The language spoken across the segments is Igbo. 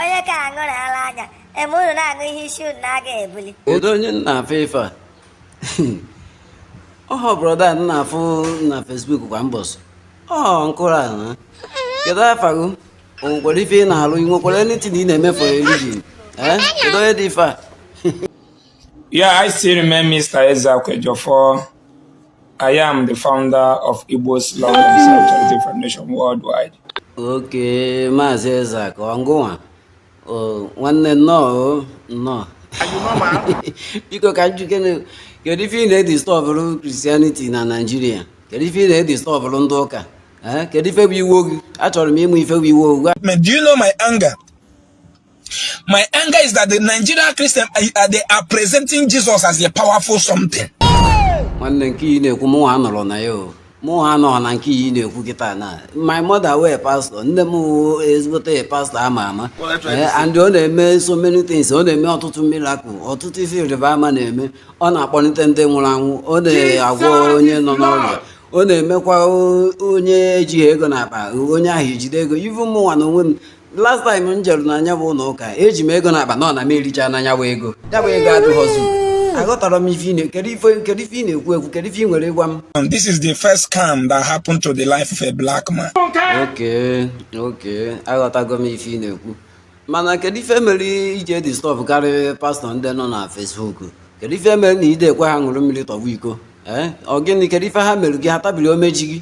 onye ka aṅụrụ ala anya eme unu na-aṅụ ihe isi unu na-aga ebuli kedu onye m na-afụ ife a ọhọ brother m na-afụ na Facebook kwa mbọsị ọ nkụrụ a na kedu afa gị o nwekwara ife ị na-alụ ị nwekwara anything ị na-eme for a living eh kedu onye dị ife a Yeah, I still remain Mr. Ezeaka Ejiofor I am the founder of Igbos Love Themselves Charity Foundation worldwide. Okay, Maazị Ezeaka, ọ ngịnwa. Nwanne nnọọ nnọọ. Biko ka m jụkene kedu ife ị na-edistọbụrụ Christianity na Naịjirịa? Kedu ife ị na-edistọbụrụ ndị ụka? Kedu ife bụ iwe gị? Achọrọ m ịma ife bụ iwe gị. Do you know my anger? My anger is that the Nigerian Christian uh, uh, they are presenting Jesus as a powerful something. nwanne nke ị na-ekwu mụnwa anọrọ na ya o mụnwa anọrọ na nke ị na-ekwu kịta na my mother wụ pastọ nne m wụ ezigbote pastọ ama ama Eh, and ọ na-eme so many things ọ na-eme ọtụtụ miracle ọtụtụ ife ịrịba ama na-eme ọ na-akpọlite ndị nwụrụ anwụ ọ na-agwọ onye nọ n'ọrịa ọ na-emekwa o- onye ejighị ego n'akpa onye ahụ ejide ego even mụnwa na onwe m last time m jere na nya bụ ụlọ ụka eji m ego n'akpa nọ na m ericha na nya bụ ego ya bụ ego adịghọzi aghọtara m ife ị na- kedu ife kedu ife ị na-ekwu ekwu kedu ife ị nwere ịgwa m And this is the first scam that happened to the life of a black man. okay okay aghọtago m ife ị na-ekwu mana kedu ife mere i ji edistọbụkarị pastọ ndị nọ na Facebook kedu ife mere na ị dị ekwe ha ṅụrụ mmiri tọwa iko ee ọ gịnị kedu ife ha mere gị ha tabiri umeji gị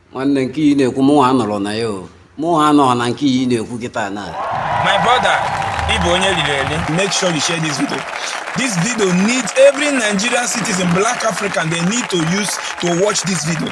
nwanne nke ị na-ekwu mụnwa anọrọ na ya o mụnwa anọrọ na nke ị na-ekwu kịta na my brother ị bụ onye riri eri make sure you share this video this video need every nigerian citizen black african they need to use to watch this video